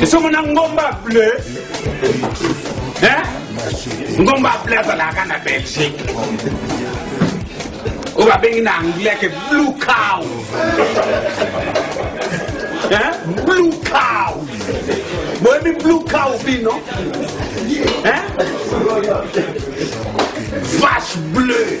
esongo na ngomba bleu ngomba bleu azalaka na belgique oyo babengi na anglais ke blue cow blue cow boyebi blue cow bino vache bleu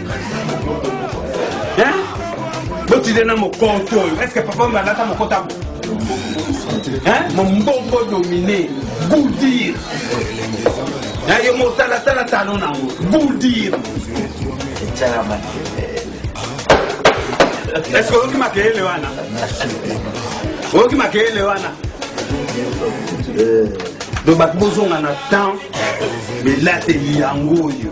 Hein? botide na mokonto oyo eske papa oyo alata mokonto ako Hein? mombongo domine goudir na yo motalatala talo nango goudir eske oyoki makelele wana oyoki makelele wana donc bato bozonga na temps elateli yango oyo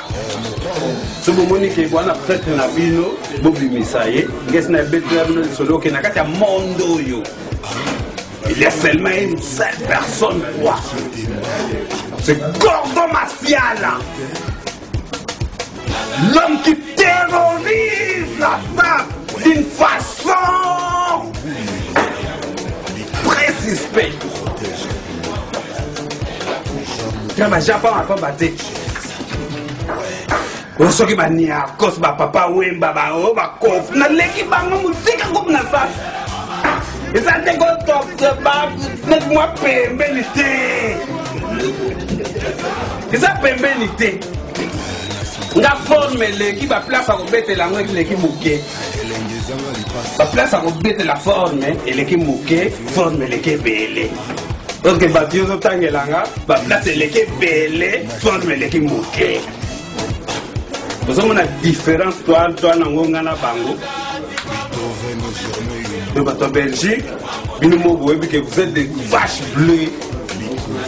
so bomoni ke wana pretre na bino bobimisa ye ngesi na ebeteli ya bino lisolo oke na kati ya monde oyo il y a seulement une seule personne quoi c'est gordo masiala l'homme qui terrorise la femme d'une façon très suspecte kama japon akobate oyo soki baniakos bapapa wemba bao bakof naleki bango mosika kopi na sasa eza nde kotokse baneti mwa pembeni te eza pembeni te nga forme eleki baplace akobetela yango eleki moke baplace akobetela forme eleki moke forme eleki ebele oke bato yo ozotangela nga baplace eleki ebele Toile eleki moke. ozomona différence toile toile nango nga na bango de bato ya belgique bino mo boyebi ke vous êtes des vache bleu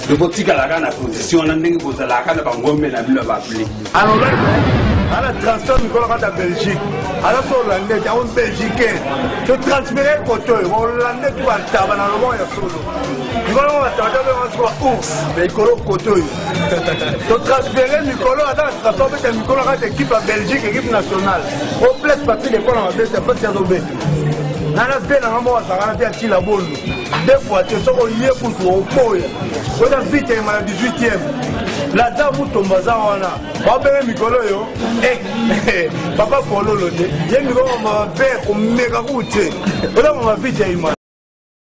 de botikalaka na position wana ndenge bozalaka na bangombe na bino ya baple ala transfert mikolo kata belgique ala so hollande te on belgicain to transfere koto hollande to bataba na loboko ya solo mikolo kote oyo totransfere mikolo aza na situation obeta mikolo kati ekipe ya belgique ekipe nationale o place papi lekona mabeta mpasi azobeta nana mpe nanga moko azalaka na mpe atila bolu de fois te soki oye kutu oboya oza vite yema na 18e laza mutombo aza wana babenge mikolo oyo eh, eh, papa kololo te ye mikolo mpe komeka kutu te oza mama vite yema